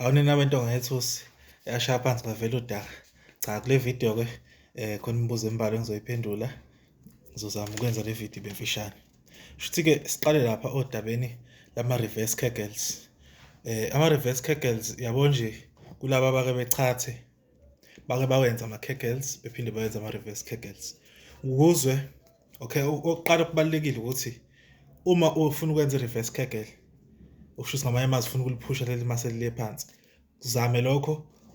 Awu nina bentonga yethusi yashaya phansi ngavela udaka. Cha kule video ke eh khona imibuzo embalwa engizoyiphendula. Ngizozama ukwenza le video ibe mfishane. Shuthi ke siqale lapha odabeni lama reverse kegels. Eh ama reverse kegels yabo nje kulabo abake bechathe bake bawenza ama kegels bephinde bawenza ama reverse kegels. Ukuzwe Okay, okuqala okubalulekile ukuthi uma ufuna ukwenza i-reverse kegel okusho ukuthi ngamanye amazwi ufuna ukuliphusha leli mase lile phansi zame lokho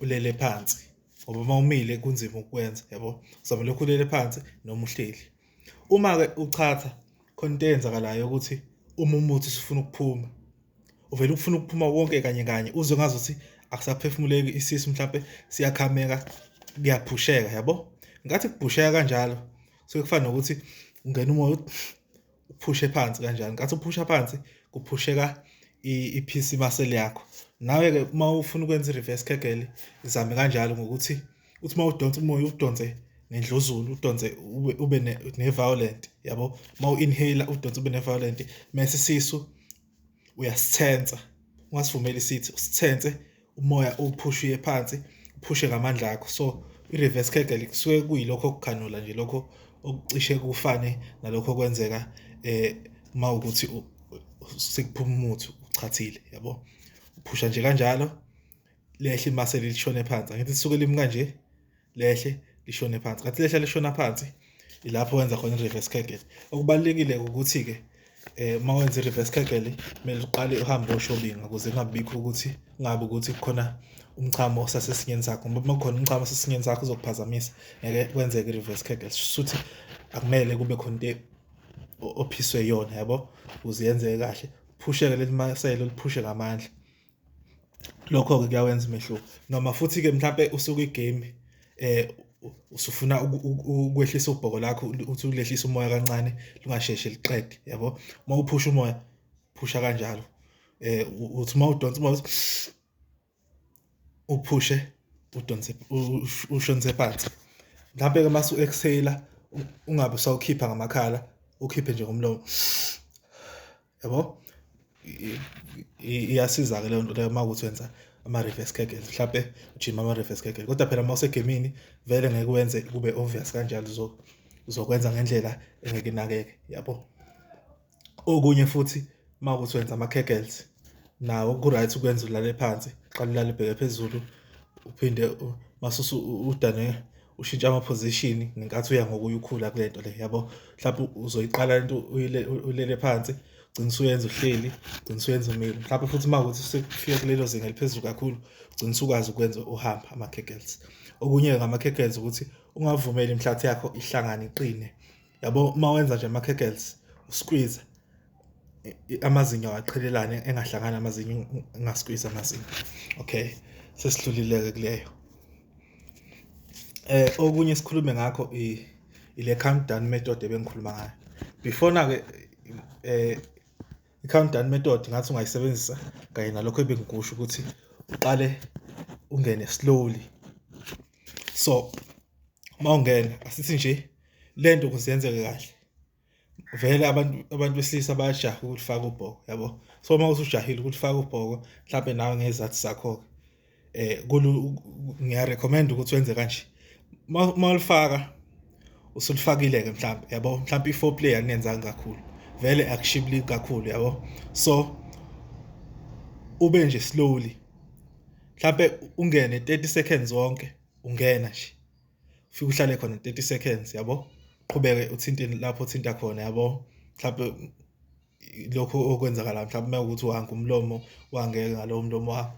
ulele phansi ngoba uma umile kunzima ukukwenza yabo zame lokho ulele phansi noma uhleli uma-ke uchatha khona into eyenzakalayo ukuthi uma umuthi usufuna ukuphuma uvele ukufuna ukuphuma wonke kanye kanye uze ngazi ukuthi akusaphefumuleki isisu mhlampe siyakhameka kuyaphusheka yabo ngathi kubhusheka kanjalo so kufana nokuthi ungena umoya uphushe phansi kanjani kathi uphusha phansi kuphusheka i-PC muscle yakho nawe-ke uma ufuna ukwenza i-reverse kegel izame kanjalo ngokuthi uthi uma udonsa umoya udonse ngendluzulu udonse ube ne-violent yabo uma u-inhale udonse ube ne-violent mese isisu uyasithensa ungasivumeli isithi usithense umoya uphushiye phansi uphushe ngamandla akho so i-reverse kegel kusuke kuyilokho kughanula nje lokho okucishe kufane nalokho kwenzeka eh uma ukuthi sekuphuma umuthi uchathile yabo uphusha nje kanjalo lehle imaseli lishone phansi angithi lisuke limi kanje lehle lishone phansi ngathi lehla lishona phansi ilapho wenza khona i-reverse kegel okubalulekile ukuthi-ke eh uma wenza i-reverse kegel kumele uqale uhambe oshobinga ukuze kungabikho ukuthi kungabi ukuthi kukhona umchamo osasesinyeni sakho ngoba uma kukhona umchamo osasesinyeni sakho uzokuphazamisa ngeke kwenzeke i-reverse kegel suthi akumele kube khona into ophiswe yona yabo uziyenze kahle phusheke leli maselo liphushe ngamandla Lokho-ke kuyawenza umehluko noma futhi-ke mhlampe usuke igemu usufuna ukwehlisa ubhoko lakho uthi ukulehlisa umoya kancane lungasheshe liqede yabo. Uma uphusha umoya phusha kanjalo uthi uma udonsa umoya uphushe udonse ushonise phansi. Mhlampe-ke mase u-exhale-a ungabe usawukhipha ngamakhala ukhiphe nje ngomlomo. yabo iyasiza-ke leyo nto leyo uma ukuthi wenza ama-reverse kegels mhlampe ujima ama-reverse kegels kodwa phela uma usegemini vele ngeke wenze kube obvious kanjalo uzokwenza ngendlela engeke inakeke yabo okunye futhi uma ukuthi wenza ama-kegels nawo ku-right ukwenza ulale phansi qala ulale bheke phezulu uphinde masusu udane ushintsha amaphozishini ngenkathi uya ngokuya ukhula kule nto le yabo mhlawumbe uzoyiqala lento ulele phansi ugcina usuyenza uhleli ugcina usuyenza umile mhlawumbe futhi uma ukuthi usefike kulelo zinga eliphezulu kakhulu ugcina usukwazi ukwenza uhamba ama-kegels okunye ngama-kegels ukuthi ungavumeli imhlathi yakho ihlangane iqine yabo uma wenza nje ama-kegels usqueeze amazinyo awaqhelelane engahlangani amazinyo engaskwizi amazinyo okay sesidlulile-ke kuleyo eh okunye sikhulume ngakho ile countdown method ebengikhuluma ngayo before na-ke eh i-countdown method ngathi ungayisebenzisa kanye nalokho ebengikusho ukuthi uqale ungene slowly so uma ungena asithi nje lento kuzenzeke kahle vele abantu abantu besilisa bayajaha ukulifaka ubhoko yabo so uma usujahile ukulifaka ubhoko mhlawumbe nawe ngezathu zakho ke eh kulu ngiya recommend ukuthi wenze kanje uma ulifaka usulifakile ke mhlawumbe yabo mhlawumbe i4 play anenzanga kakhulu vele akushibili kakhulu yabo so ube nje slowly mhlawumbe ungene 30 seconds wonke ungena nje ufike uhlale khona 30 seconds yabo qhubeke uthinte lapho uthinta khona yabo mhlawumbe lokho okwenzakala mhlawumbe uma ukuthi uhange umlomo wangeke ngalowo mlomo wakho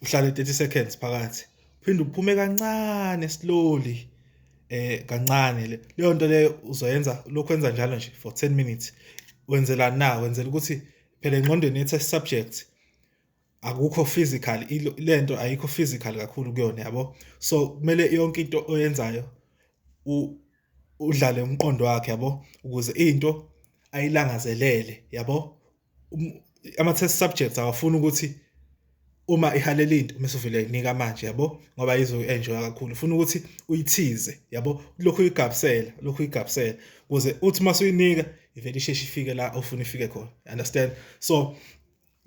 uhlale 30 seconds phakathi phinde uphume kancane slowly eh kancane le leyo nto leyo uzoyenza lokho enza njalo nje for 10 minutes wenzela na wenzela ukuthi phela engqondweni yethe subject akukho physical lento ayikho physical kakhulu kuyona yabo so kumele yonke into oyenzayo udlale umqondo wakhe yabo ukuze into ayilangazelele yabo um, ama test subjects awafuni ukuthi uma ihalela into mase uvele inika manje yabo ngoba izo enjoy kakhulu ufuna ukuthi uyithize yabo lokho uyigabsela lokho uyigabsela ukuze uthi mase uyinika ivele isheshe ifike la ofuna ifike khona understand so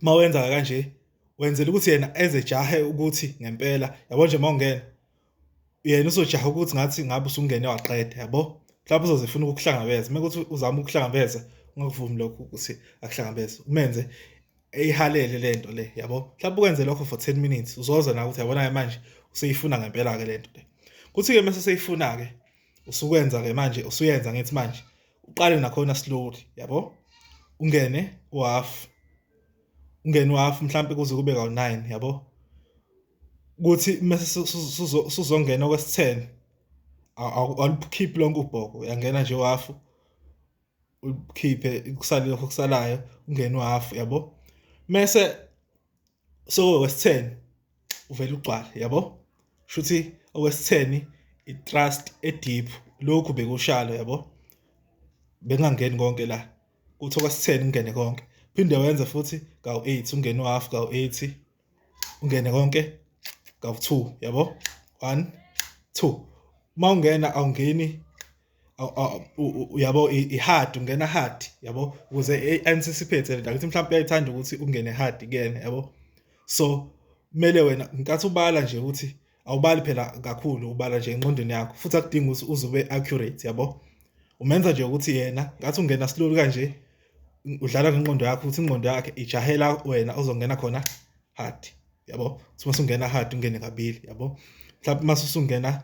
uma wenza kanje wenzela ukuthi yena ezejahe ukuthi ngempela yabo nje uma ungena yena uzojaha ukuthi ngathi ngabe usungene waqeda yabo mhlawumbe uzozifuna ukukuhlangabeza uma kuthi uzama ukuhlangabeza ungakuvumi lokho ukuthi akuhlangabeze umenze eyihalele le nto le yabo mhlawumbe ukwenze lokho for 10 minutes uzoza nawe ukuthi yabona-ke manje useyifuna ngempela-ke le nto le kuthi-ke mese seyifuna-ke usukwenza-ke manje usuyenza ngithi manje uqale nakhona slowly yabo ungene uhalf ungene uhalf mhlambe kuze kube ka-9 yabo kuthi mase suzongena kwesi-10 awulikhiphi lonke ubhoko uyangena nje uhalf ukhiphe kusale lokho kusalayo ungene uhalf yabo mese so okwesitheni uvela ugcwale yabo shuthi okwesitheni i-trust e-deep lokhu bekushalo yabo bengangeni konke la kuthi okwesitheni kungene konke phinde wenze futhi kawu-8 ungene u-half kawu-8 ungene konke kawu-2 yabo 1 2 uma ungena awungeni uyabo i-hard ungena hard yabo ukuze anticipate le ukuthi mhlawumbe uyayithanda ukuthi ungene hard kuyena yabo so kumele wena nkathi ubala nje ukuthi awubali phela kakhulu ubala nje enqondweni yakho futhi akudingi ukuthi uze ube accurate yabo umenza nje ukuthi yena ngathi ungena slowly kanje udlala ngenqondo yakho ukuthi inqondo yakhe ijahela wena ozongena khona hard yabo ukuthi masungena hard ungene kabili yabo mhlawumbe masungena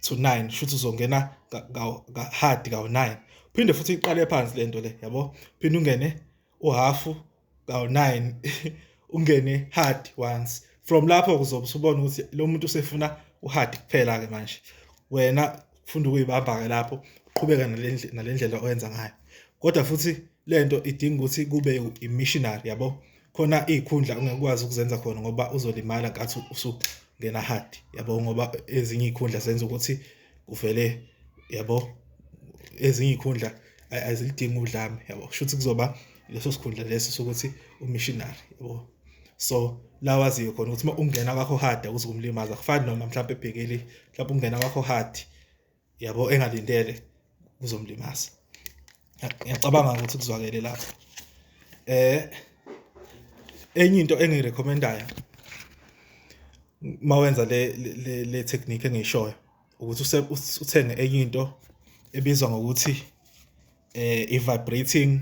to 9 shuthi uzongena ka hard ka 9 phinde futhi iqale phansi lento le yabo phinde ungene uhafu ka 9 ungene hard once from lapho kuzobe usubona ukuthi lo muntu usefuna uhard kuphela ke manje wena funda ukuyibamba ke lapho uqhubeka nalendlela oyenza ngayo kodwa futhi lento idinga ukuthi kube i-missionary yabo khona iy'khundla ungekwazi ukuzenza khona ngoba uzolimala ngathi usungena hard yabo ngoba ezinye iy'khundla zenza ukuthi kuvele yabo ezinye iy'khundla azilidingi udlame yabo kusho ukuthi kuzoba leso sikhundla leso sokuthi umissionary yabo so lawaziyo khona ukuthi uma ungena kwakho hard akuze kumlimaza kufani noma mhlawumbe ebhekeli mhlawumbe ungena kwakho hard yabo engalindele kuzomlimaza ngiyacabanga ukuthi kuzwakele lapho eh enye into engirecommendayo mawenza le le, le technique engishoyo ukuthi uthenge enye into ebizwa ngokuthi eh i-vibrating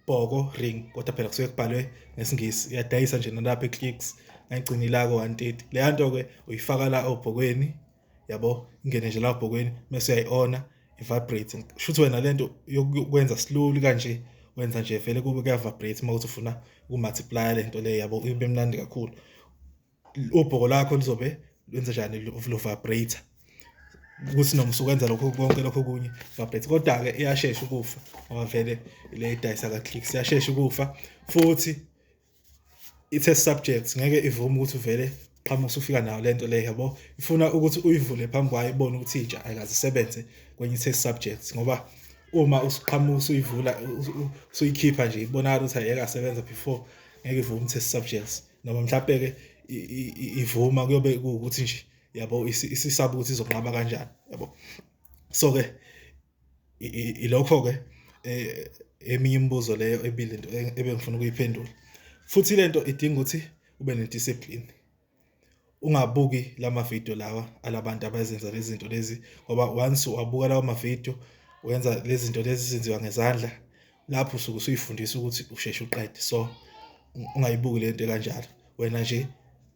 bhoko ring kodwa phela kusuke kubhalwe ngesingisi iyadayisa nje nalapha e-clicks ngayigcinilako 130 leya nto-ke uyifaka la obhokweni yabo ingene nje lapho bhokweni mese uyayiona i-vibrate shuthi wena lento yokwenza slowly kanje wenza nje vele kube kuya-vibrate uma uthi ufuna uku-multiplya lento le yabo ibe mnandi kakhulu ubhoko lakho lizobe lenza njani lo-vibrate ukuthi noma usukwenza lokho konke lokho kunye vibrate kodwa-ke iyashesha ukufa ngoba vele le idayisa ka-click siyashesha ukufa futhi i-test subject ngeke ivume ukuthi uvele qhamuka usufika nayo lento le yabo ifuna ukuthi uyivule phambi kwayo ibone ukuthi intsha ayikaze isebenze kwenye i-test subject ngoba uma usuqhamuka usuyivula usuyikhipha nje ibonakala ukuthi ayeka sebenza before ngeke ivume i-test subjects noma mhlawumbe ke ivuma kuyobe ukuthi nje yabo isisaba ukuthi izonqaba kanjani yabo so ke Ilokho-ke eminye imibuzo leyo ebile into ebengifuna ukuyiphendula. Futhi le nto idinga ukuthi ube ne-discipline, ungabuki la mavidiyo lawa ala bantu abazenza lezi zinto lezi ngoba once wabuka lawa mavidiyo wenza lezi zinto lezi ezenziwa ngezandla. lapho usuke usuyifundisa ukuthi usheshe uqede so ungayibuki lento kanjalo wena nje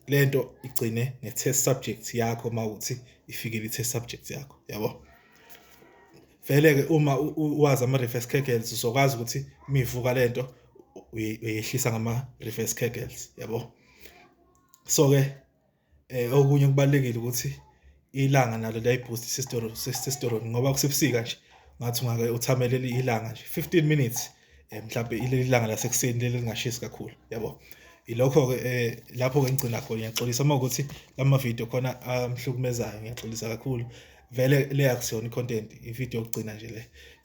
lento igcine ne test subject yakho mawuthi ifikile i test subject yakho yabo vele ke uma wazi ama reverse kegels usokwazi ukuthi mivuka lento uyehlisa ngama reverse kegels yabo so ke Eh okunye kubalekile ukuthi ilanga nalo liyayiboost testosterone testosterone ngoba kusebusika nje ngathi ungake uthamele ilanga nje 15 minutes eh mhlawumbe ileli langa lasekuseni leli lingashisi kakhulu yabo ilokho ke eh lapho ke ngigcina khona ngiyaxolisa uma ukuthi lama video khona amhlukumezayo ngiyaxolisa kakhulu vele le akusiyona i-content i-video yokugcina nje le